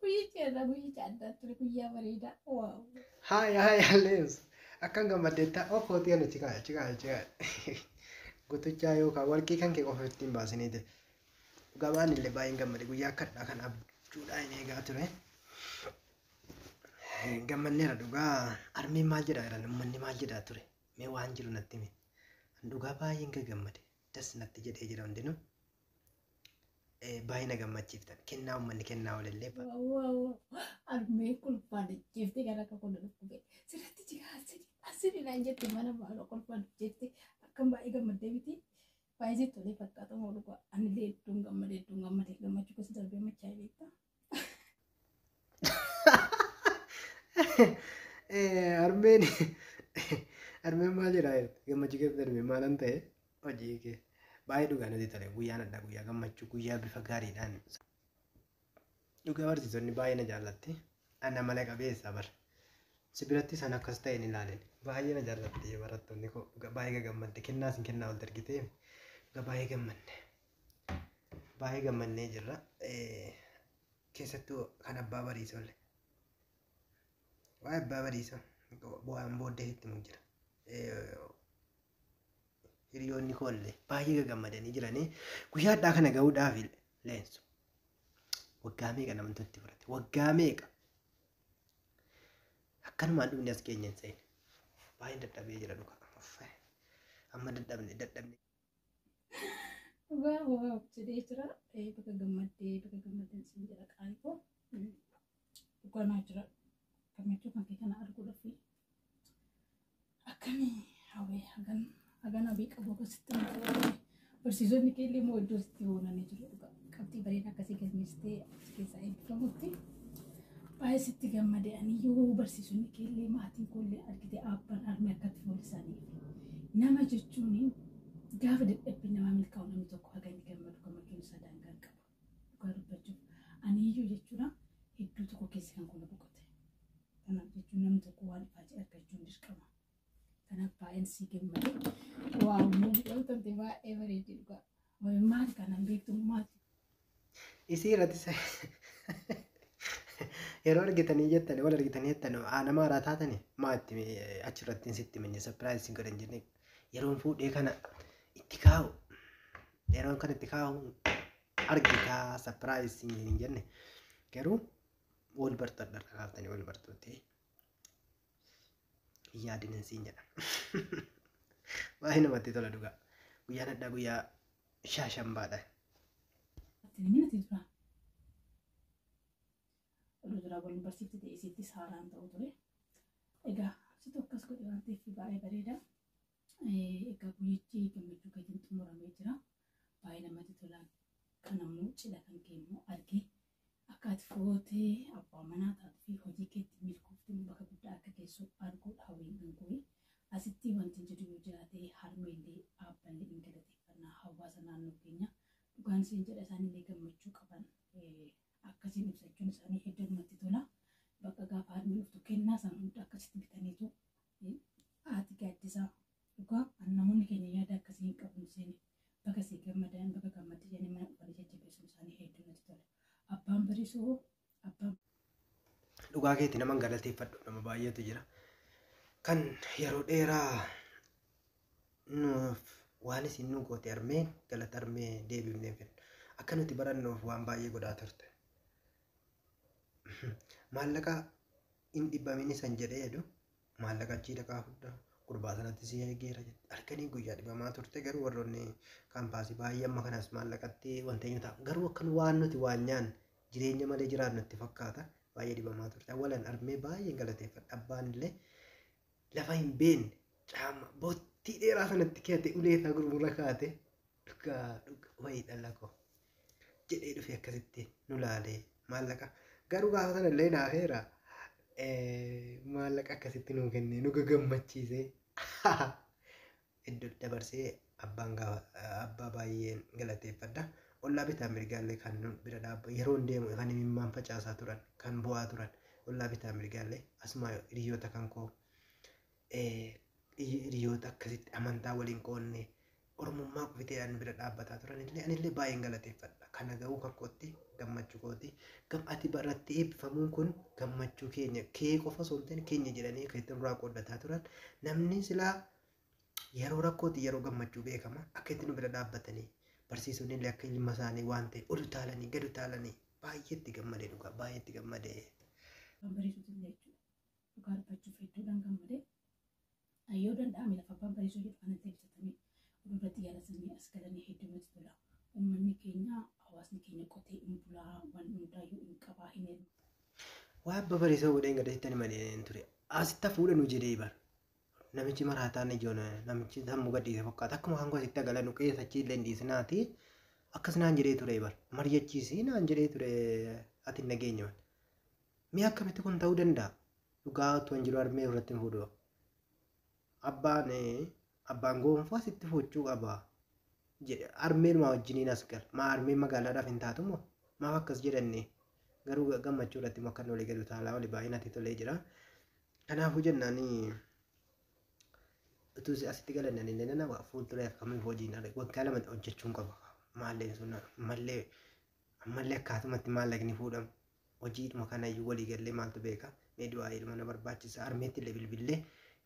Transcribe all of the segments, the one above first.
Guyyichi irra guyyicha addaa ture guyyaa bareedaa. Waaw. Haaya haaya leeus. Akkan gammaddeetta of hootii kana chikaaya chikaaya chikaaya. Gutuchaa yookaan warqii kan kee qofa ittiin baasinii ta'e. Gabaan illee baay'een gammade guyyaa akkadhaa kan abjuudhaa hin eegaa ture. Gammanneera dhugaa armiin maal jedhaa jiran uummanni maal jedhaa ture mee waan jiru natti himi. Dhugaa baay'een gammade das natti jedhee jira hundinuu. eh, baay'ee na gammachiiftan. Kennaa uummanni kennaa oolellee ba- Armee kolfaan jeeftee gara akka kun dhukkubee. Sirratti jigaa asiri asiri naan jette mana maaloo kolfaan jette akkam baay'ee gammaddee miti. Baay'ee tolee fakkaata moo dhugaa anillee hedduun gammadee hedduun gammadee gammachuu keessa darbee machaa beektaa. Armeen armeen maal jedhaa gammachuu keessa darbe maalan ta'e hojii kee baay'ee dhugaa natti tole guyyaan addaa guyyaa gammachuu guyyaa bifa gaariidhaan dhugaa barsiisonni baay'ee na jaallatti ana mala qabeessa bar si biratti san akkas ta'e hin ilaalin baay'ee na jaallatti barattoonni koo dhugaa baay'ee gagammadde kennaa sin kennaa ol dargitee dhugaa baay'ee gammadde. Baay'ee gammannee jirra. Keessattuu kan abbaa bariisolle. Waa'ee abbaa bariisoo bu'aan booddee itti himu jira. Hiriyoonni koollee baay'ee gaggammadanii jiranii guyyaa addaa kana ga'uudhaaf leensu. Waggaa meeqa namatti itti fudhate? Waggaa meeqa? Akkanumaan dhumni as keenya hin seene. Baay'een dadhabee jira dhugaa. Amma dadhabne dadhabne. Dhugaa waa jedhee jira. Eh, Baga gammaddee baga gammaddan siin jedha qaalii koo. Mm. Dhugaa naa jira. Gammachuu kan kee kana arguudhaaf akkamii hawwee hagan hagan hawwii qabu akkasitti na fayyadame. Barsiisonni kee illee immoo iddoo sitti boonanii jiru. Dhugaa qabxii bareedaa akkasii galmeessitee keessaa eebbifamutti baay'ee sitti gammade aniyyuu barsiisonni keellee maatiin koollee argite abbaan armee akkatti foolisaanii nama jechuun gaafa dadhabbii namaa milkaa'u namni tokko haga inni gammadu gammachuun isaa daangaa hin qabu dhugaa dubbachuuf aniyyuu jechuudha hedduu tokko keessa kan kola boqote kanaaf jechuun namni tokko waan ifaajee argachuun dirqama kanaaf baay'een sii gammade waaw muummiidhaan tante baay'ee bareeddi dhugaa maal kanan beektu maati isii irratti sa- yeroo argitanii jettan wal argitanii jettan aa nama haaraa taatani maa itti mi- achirratti hin sitti minne sapiraayiz isin godhan jenne yeroon fuudhee kana itti kaa'u yeroon kana itti kaa'u argitaa sapiraayiz isin hin jenne garuu wal bartadha dhaqaaftanii wal bartuuti hin yaadin hin siin jedha baay'ee namatti tola dhugaa guyyaan addaa guyyaa shaashambaadha. Filimina Tilfaa. Oduu duraa waliin barsiifti ta'e isiittis haaraan ta'u ture. Egaa situ akkas godhe waan ta'eef baay'ee bareeda. Egaa guyyichi gammachuu keetiin xumuramee jira. Baay'ee namatti tola. Kan ammoo cidha kan kee immoo argee Akka ati footee abbaa manaa taatu fi hojii keetti milkoofte bakka guddaa akka geessu arguu hawwiin kan kooyi. Asitti wantin jedhu yoo jiraate harmeellee aabballee in galateeffannaa hawaasa naannoo keenya dhugaan isin jedha isaanillee gammachuu qaban akkasiin ibsachuun isaanii hedduu namatti tola. Bakka gaafa harmeen dhuftu kennaa san hunda akkasitti bitaniitu haati gaaddisaa Dhugaa an namoonni keenya yaada akkasii hin qabu hin seene baga sii gammadan baga gammadde jedhanii mana dhufanii jajjabeessuun isaanii hedduu natti tola. Abbaan bariisuu hoo abbaan Dhugaa keeti naman galateeffadhu nama baay'eetu jira. Kan yeroo dheeraa nuuf waan isin nu goote armee galata armee deebifnee fedha. Akka nuti barannuuf waan baay'ee godhaa turte. Maallaqa hin dhibbamin isan jedhee jedhu maallaqa achii dhaqaa fudhaa gurbaa sanatti si eegeera jette halkanii guyyaa dhibamaa turte garuu warroonni kaampaasii baay'ee amma kanas maallaqatti wanta hin ta'a garuu akkan waan nuti waan nyaan jireenya malee jiraannu itti fakkaata baay'ee dhibamaa turte awwalan armee baay'een galateeffadha abbaan illee lafa hin beekne caama bottii dheeraa sanatti keete ulee isaa gurgurra kaate dhugaa dhugaa wayii dhala koo. jedhee dhufee akkasitti nu laalee maallaqa garuu gaafa sana illee naafeera maallaqa akkasitti nuu kennee nu gagammachiisee iddoo dabarsee abbaan gaafa abbaa baay'een galateeffadha. Ollaa bitaa mirgaallee kan nu bira dhaabba yeroon deemu kan imimmaan facaasaa turan kan bu'aa turan ollaa bitaa mirgaallee asumaa hiriyoota kan koo Hiriyoota akkasitti amantaa waliin qoodne ormummaa kufitee ani bira dhaabbataa turan illee ani illee baay'een galateeffadha. Kana ga'uu kan kootti gammachuu kooti. Gam ati irratti eebbifamuun kun gammachuu keenya kee qofa osoo hin ta'in keenya jedhanii kan itti nurraa qooddataa turan namni silaa yeroo rakkooti yeroo gammachuu beekama akka itti nu bira dhaabbatanii barsiisonni illee akka ilma isaanii waan ta'e ol utaalanii gad utaalanii baay'eetti gammadee dhugaa baay'eetti gammadee. Kan bariisuutu illee jechuudha. dhugaa dubbachuuf hedduudhaan gammade. Yoo danda'ame lafa abbaan bareessuu jedhu kana deebisatanii oduu irratti yaadatanii as galanii hedduu nuti tola. Uummanni keenya hawaasni keenya qotee hin bulaa waan hundaayyuu hin qabaa hin heeru. Waa abba bareessoo godheen gada sittani malee hin ture. Asitta fuudha nu jedhee bar. Namichi maraataan ijoon namichi sammuu gadhiise fakkaata akkuma kan asitti agala nu keessa achi illee hin dhiisinaati. Akkas naan jedhee ture bar. Mari'achiisi naan jedhee ture ati hin dhageenye wan. Mee akkamitti kun ta'uu danda'a? Dhugaa otoo hin jiru harmee irratti hin fuudhu. Abbaan abbaan goonfaa sitti fuuchuu qaba. jedhe harmeen maa wajjiniin as gal maa harmeen magaalaadhaaf hin taatu moo maaf akkas jedhanne garuu gammachuu irratti moo kan walii galu taalaa walii baay'ee natti tolee jira kanaafuu jennaan utuu asitti galannan illee nana fuuldura akkamiif hojiin ala waggaa lama hojjechuun qaba maalleen sun mallee ammallee akkaatumatti maallaqni fuudhamu hojiidhuma kanayyuu walii gallee maaltu beeka mee du'aa ilma na barbaachisa armeetti illee bilbillee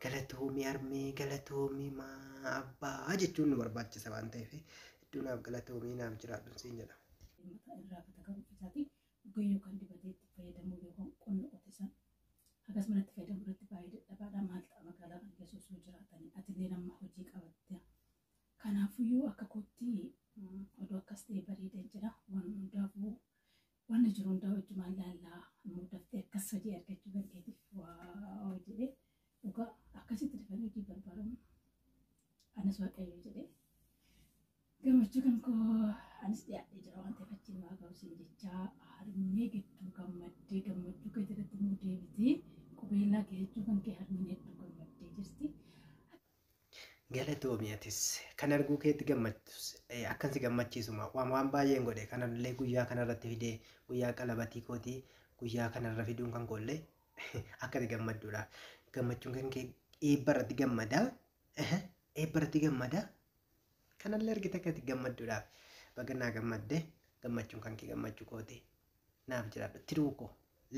galatoomii armee galatoomii maa abbaa jechuun nu barbaachisa waan ta'eef hedduu naaf galatoomii naaf jiraadhu siin jedha. mata irraa akka ta'u isaati dhugaa yookaan dibatee itti fayyadamuu yookaan qonna qote san hagas manatti fayyadamu irratti baay'ee dadhabaadha maal ta'a magaalaa kan keessa osoo jiraatanii atillee nama hojii qabatte kanaafuyyuu akka kootti oduu akkas ta'e bareedeen jira waan hundaafuu wanna jiru hundaa wajjumaan laallaa immoo daftee akkas hojii argachuu dandeetiif waa jedhee dhugaa akkasitti dafanii hojii barbaadamu anas waaqayyo jedhee gammachuu kan koo anis dhiyaadhee jira waan ta'eef achiin waa ga'uusin jechaa harmee gidduu gammaddee gammachuu kee jalatti immoo deebitee qubeellaa kee jechuu kan kee harmeen hedduu gammaddee jirti. Galatoomi atis kan arguu keetti gammachiisus akkan si gammachiisuma waan waan baay'een godhe kanallee guyyaa kanarratti fidee guyyaa qalabatii kootii guyyaa kanarra fiduun kan koollee akka si gammadduudha gammachuun kan kee eebba irratti gammada eebba irratti gammada kanallee argite akka si gammadduudha baga naa gammadde gammachuun kan kee gammachuu kooti naaf jiraadhu tiruu koo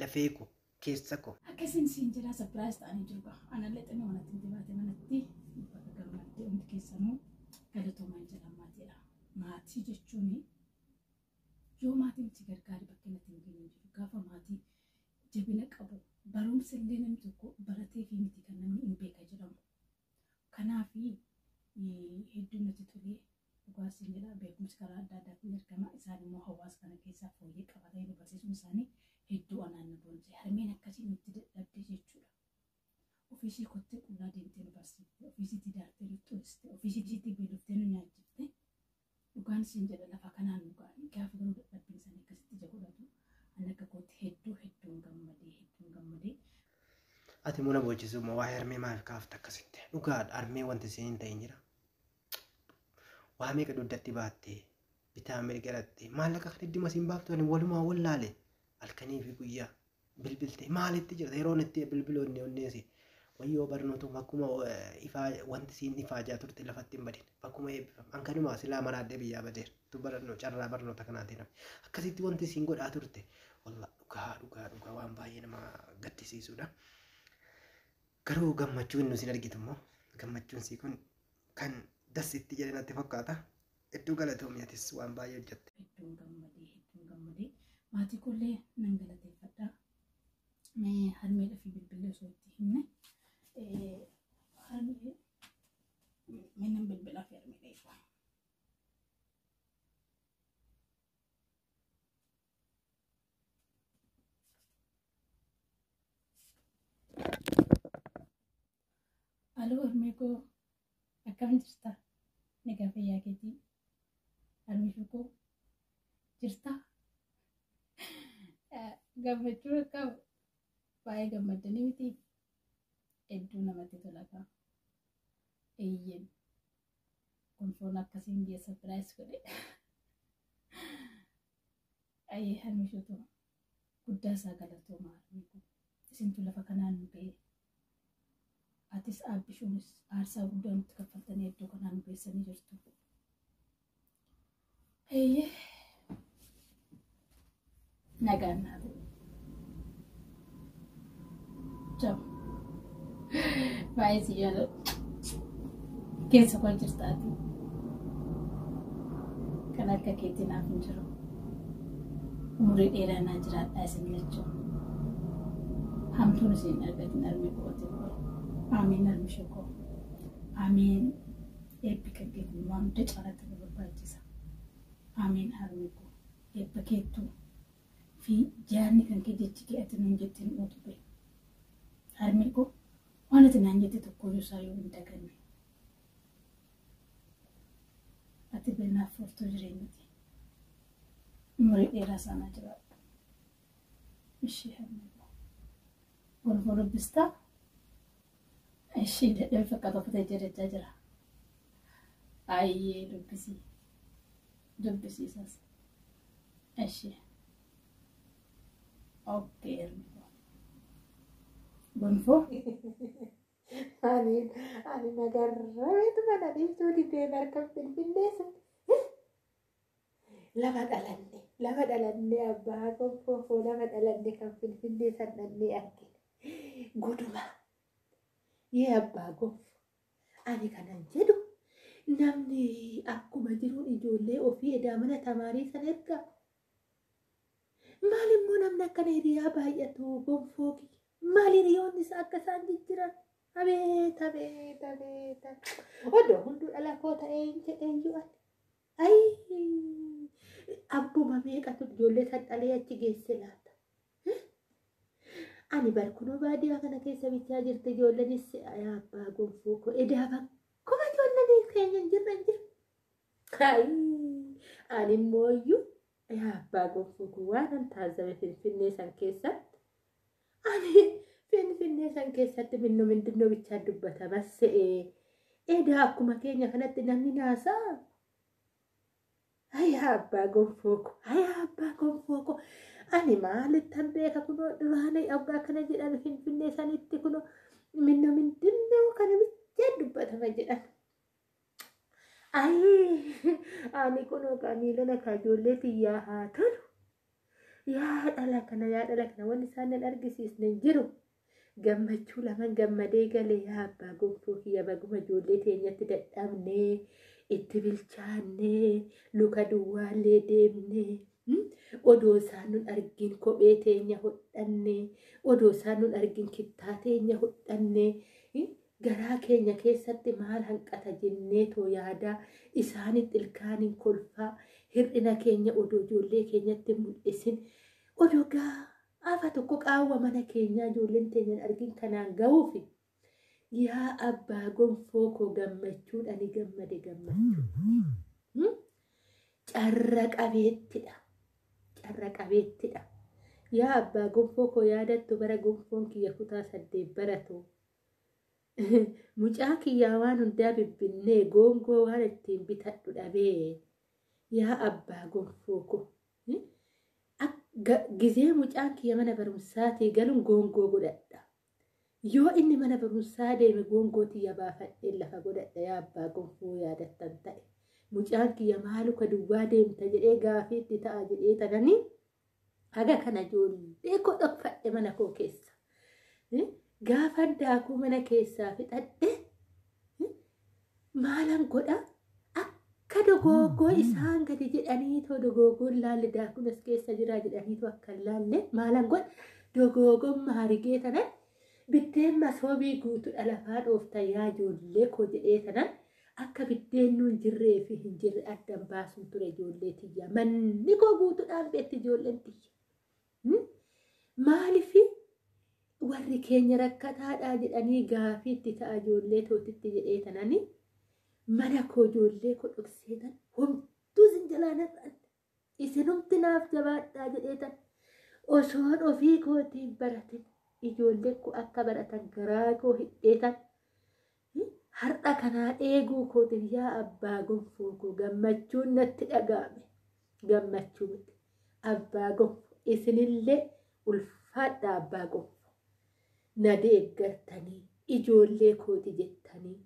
lafee koo keessa ko. Akka isin siin jedhaa surprise ta'anii jiru gaa. Anallee xinnoo manatti miti baate manatti baga gammaddee hundi keessanuu galatoomaa jedhan maatiidha. Maatii jechuun yoo maatiin si gargaare bakka inni ittiin geenye hin jiru. Gaafa maatii jabina qabu barumsa illee namni tokko baratee fi miti kan namni hin beeka jedhamu. Kanaaf hedduu natti tolee Dhugaa siin jedha beekumsi karaa adda addaatiin ergama isaan immoo hawaasa kana keessaa fooyyee qabatanii barsiisuun isaanii hedduu anaan na boonse harmeen akkasii nutti dadhabde jechuudha. Ofiisii kottee qullaa deemtee nu barsiifte ofiisiitii daartee nu xuiste ofiisiitii beeloftee nu nyaachifte dhugaan siin jedha lafa kanaan nu ga'anii gaafa garuu dadhabbiin isaanii akkasitti ija godhatu ani akka kootti hedduu hedduun gammadee hedduun gammadee Ati muna boochisuu moo waa'ee harmee maaf kaafta akkasitti? Dhugaadha harmee wanti isheen hin ta'in jira. waa meeqa duddatti baatte bitaa mirga dhatte maallaqa kan idduma siin baaftu ani walumaa wallaale halkanii fi guyyaa bilbilte maalitti jirta yeroon itti bilbiloonni onneesi wayyoo barnootu bakkuma eh, ifaa wanti siin ifaajaa turte lafatti hin badin bakkuma eebbifam hankanumaa silaa maraadhee biyyaa badeera tu barannoo carraa barnoota kanaatiin hafe. akkasitti wanti siin godhaa turte wallah dhugaa dhugaa dhugaa waan baay'ee nama gaddisiisudha. Garuu gammachuu inni isin argitu immoo gammachuun sii kun kan das itti jedhe natti fakkaata. Hedduu galatoomi atis waan baay'ee hojjette. hedduun gammadee hedduun gammadee maatii koollee nan galateeffadha. Mee harmeedha fi bilbillee osoo itti himne eh, harmee mee nan bilbilaa fi harmeedha eegaa. Aloo harmee koo akkam jirta? Nagaa fayyaa keetii? Harmee koo jirta? Gammachuu akkam baay'ee gammaddanii miti? Hedduu namatti tola kaa. Eeyyeen kun foon akkasiin geessa biraayis godhe. Ayii harmishoto guddaa isaa galatooma harmee kun isintu lafa kanaan nu ga'ee atis aabbishuunis aarsaa guddaa nutti kaffaltanii iddoo kanaa nu geessanii jirtu. Eeyyee nagaan naaf. Jam. Baay'ee si jaalladha. Keessa koo jirtaati. Kan akka keetii naaf hin jiru. Umurii dheeraa naa jiraadhaa isin lachuu. Hamtuun isin argatin armi kooti koo. Aamiin armi shukoo. Aamiin eebbi kan keetii waan hunda caalaatti nu barbaachisa. Aamiin armi koo. Eebba keettuu fi jaarni kan kee jechi kee ati nuun jette nu utube. Harmee koo waan ati naan jette tokkooyyuu isaa yoo hin daganne. Ati beelnaaf furtuu jireenyati. Umurii dheeraa saanaa jiraadhu. Ishii harmee koo. Golboo dubbistaa? Ishii dadhabe fakkaata uffata ija dachaa jira. Ayyee dubbisii. Dubbisiisas. Eshi. Okkee ergifoo. Gonfoo. Ani ani nagarreetu mana dhiiftuu didee barkan finfinnee sun. Lama dhalanne lama dhalanne abbaa gonfoo lama dhalanne kan finfinnee san dhannee argine. Goduma. Yee abbaa gonfoo. Ani kanan jedhu namni akkuma jiru ijoollee ofii edaa mana tamaarii san erga. Maal immoo namni akkana hiriyaa baay'atu gonfoo kiyya. Maal hiriyoonni isaa akka isaan jijjiran. Abeet abeet abeet abeet. Odoo hunduu dhala koo ta'ee hin jedheeyyuu ani. Ayii abbuma meeqatu ijoollee san dhalee achi geesse laata. Ani bar kunoo baadiyyaa kana keessa bichaa jirti ijoollenis yaa abbaa gonfoo koo edaa bakkuma ijoolleen keenya hin jirre hin jirre. Ayii ani immoo iyyuu yaa abbaa gonfoo koo waan an taazzabe finfinnee san keessatti ani finfinnee san keessatti minno mindinno bichaa dubbatama se'ee edaa akkuma keenya kanatti namni naasaa Ayaa abbaa gonfoo ko ayaa abbaa gonfoo ko ani maalittan beeka kunoo duraanii abba akkana jedhan finfinnee sanitti kunoo minno mindinnoo kana bichaan dubbatama jedhan. Ayii ani kunoo kaa miilana kaa ijoollee tiyyaa haa tolu yaa dhala kana yaa dhala kana wanni isaan nan argisiisne hin jiru gammachuu laman gammadee galee yaa abbaa gonfoo kiyya baguma ijoollee teenyatti dadhabnee itti bilchaannee luka duwwaallee deemnee hmm? odoo isaan nun argin kophee teenya hodhannee odoo isaan nun argin kittaa teenya hodhannee hmm? garaa keenya keessatti maal hanqata jennee too yaadaa isaanitti ilkaaniin kolfaa hir'ina keenya odoo ijoollee keenyatti mul'isin odoo gaa Gaafa tokko qaawwa mana keenyaa ijoolleen teenya hin argin kanaan gahuufi yaa abbaa gonfoo koo gammachuudhani gammade gammachuu. Hmm? Carra qabeettidha. Carra qabeettidha. Yaa abbaa gonfoo koo yaadattu bara gonfoon kiyya kutaa saddeet baratu. Mucaan kiyyaa waan hundaa bibbinnee goongoo waan ittiin bitadhu dhabee. Yaa abbaa gonfoo koo Gizee mucaan kiyya mana barumsaatii galuun goongoo godhadha. Yoo inni mana barumsaa deeme goongoo tiyya baafadhee lafa godhadha yaa abbaa gonfoo yaadattan ta'e. Mucaan kiyya maaluka duwwaa deemta jedhee gaafii itti ta'a jedhee tananii haga kana ijoollee koo dhokfadhe mana koo keessa. Gaafa daakuu mana keessaa fixadhe maalan godha akka dogoogoo isaan gadi jedhanii too dogoogoon laalle daakuun as keessa jiraa jedhanii too akka laalle maalan godha dogoogoon maarigee tanan biddeen masoobii guutuudha lafaa dhoofta yaa ijoollee koo jedhee tanan akka biddeen nuun jirree fi hin jirre addan baasuun ture ijoollee tiyya manni koo guutuudhaan beetti ijoolleen tiyya. Maaliif warri keenya rakkataadhaa jedhanii gaafii itti ta'a ijoollee tootitti jedhee tanani mana koo ijoollee koo dhoksee tan homtuu isin jalaa narraan isinumti naaf jabaadhaa jedhee tan osoon ofii kootiin baratin ijoollee koo akka baratan garaa koo hidhee tan Har'a kana eeguu kootiif yaa abbaa gonfoo koo gammachuun natti dhaga'ame. Gammachuu miti. Abbaa gonfoo isinillee ulfaadhaa abbaa gonfoo. Na deeggartanii ijoollee kooti jettanii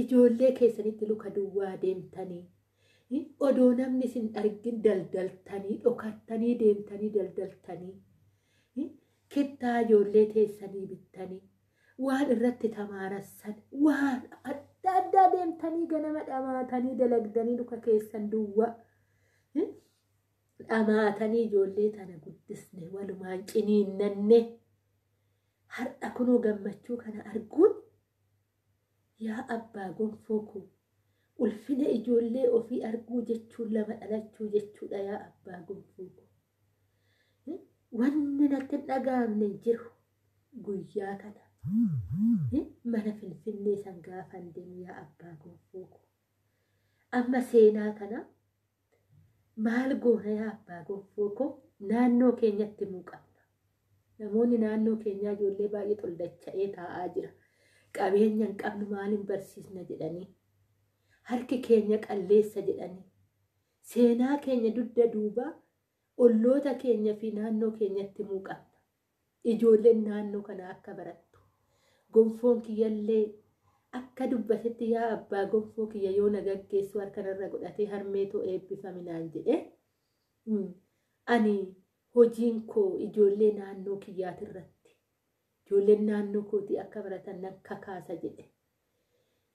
ijoollee keessanitti luka duwwaa deemtanii odoo namni isin argin daldaltanii dhokattanii deemtanii daldaltanii kittaa ijoollee teessanii bittanii. waan irratti tamaarassan waan adda addaa deemtanii ganama dhamaatanii dalagdanii luka keessan duwwaa dhamaatanii ijoollee tana guddisne walumaan ciniinnanne har'a kunoo gammachuu kana arguun yaa abbaa gonfoo koo ulfina ijoollee ofii arguu jechuun lama dhalachuu jechuudha yaa abbaa gonfoo koo. Wanni natti hin dhaga'amne hin jiru. Guyyaa kana mana Finfinnee san gaafan deemu yaa abbaa gonfoo koo. Amma seenaa kana maal goona yaa abbaa gonfoo koo naannoo keenyatti himuu qabna. Namoonni naannoo keenyaa ijoollee baay'ee xoldacha'ee taa'aa jira. Qabeenya hin qabnu maal hin barsiisna jedhanii. Harki keenya qalleessa jedhanii. Seenaa keenya dugda duubaa olloota keenya fi naannoo keenyatti himuu qabna. Ijoolleen naannoo kanaa akka barattu. Gonfoon kiyyallee akka dubbatetti yaa abbaa gonfoo kiyya yoo na gaggeessu harkanarra godhatee harmee too eebbifami naan jedhe. Ani hojiin koo ijoollee naannoo kiyyaati irratti ijoolleen naannoo kootii akka baratan nan kakaasa jedhe.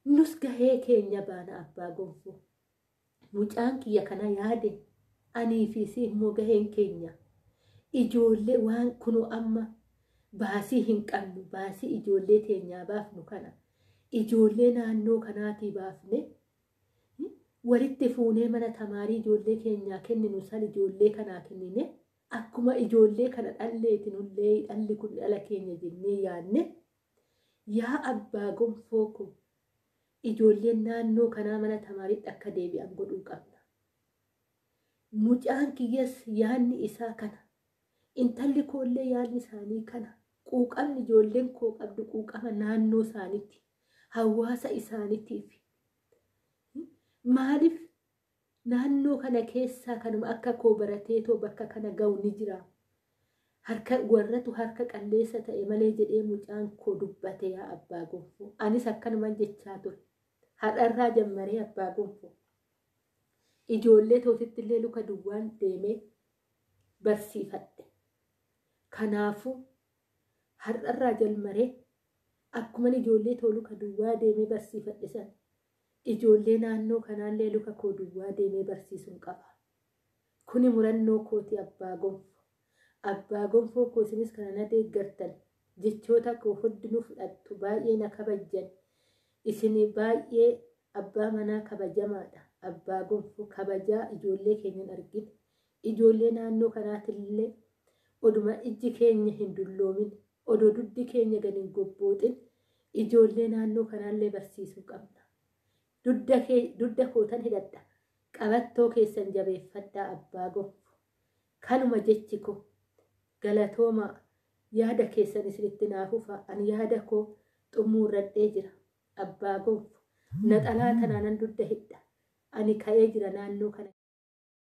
Nus gahee keenya baana abbaa gonfoo. Mucaan kiyya kana yaade anii fi isii immoo gaheen keenya ijoollee waan kunoo amma baasii hin qabnu baasii ijoollee teenyaa baafnu kana ijoollee naannoo kanaatii baafne walitti fuunee mana tamaarii ijoollee keenyaa kenninu san ijoollee kanaa kennine akkuma ijoollee kana dhalleeti nullee dhalli kun dhala keenya jennee yaanne yaa abbaa gonfoo kun Ijoolleen naannoo kanaa mana tamaariitti akka deebi'an godhuu qabna. Mucaan kiyyas yaadni isaa kana. Intalli koollee yaadni isaanii kana. Quuqamni ijoolleen koo qabdu quuqama naannoo isaaniitti, hawaasa isaaniitiif. Maaliif Naannoo kana keessaa kanuma akka koo barateetoo bakka kana gahu ni jira. Harka warratu harka qalleessa ta'e malee jedhee mucaan koo dubbate yaa abbaa gonfoo. Anis akkanuman jechaa ture. Har'arraa jammaree abbaa gonfoo. Ijoollee tootitti illee luka duwwaan deemee barsiifadhe. Kanaafuu har'arraa jalmaree akkuman ijoollee too luka duwwaa deemee barsiifadhe san Ijoollee naannoo kanaallee luka koo duwwaa deemee barsiisuun qaba. Kuni murannoo kooti Abbaa Gonfo. Abbaa Gonfoo koo isinis kana na deeggartan, jechoota koo huddinuu fudhattu, baay'ee na kabajjan. Isin baay'ee abbaa manaa kabajamaadha. Abbaa Gonfo kabajaa ijoollee keenya hin argine. Ijoollee naannoo kanaatillee oduma ijji keenya hin dulloomin, odoo duddi keenya gad hin gobbooxin ijoollee naannoo kanaallee barsiisuu qabna. Dudda kee, dudda kootan hidhadha, qabattoo keessan jabeeffadhaa abbaa gonfo. Kanuma jechi koo. Galatoomaa. Yaada keessanis itti naa fufaa. Ani yaada koo xummuurradhee jira. Abbaa gonfo. Naxalaa tanaanan dudda hidha. Ani ka'ee jira naannoo kana.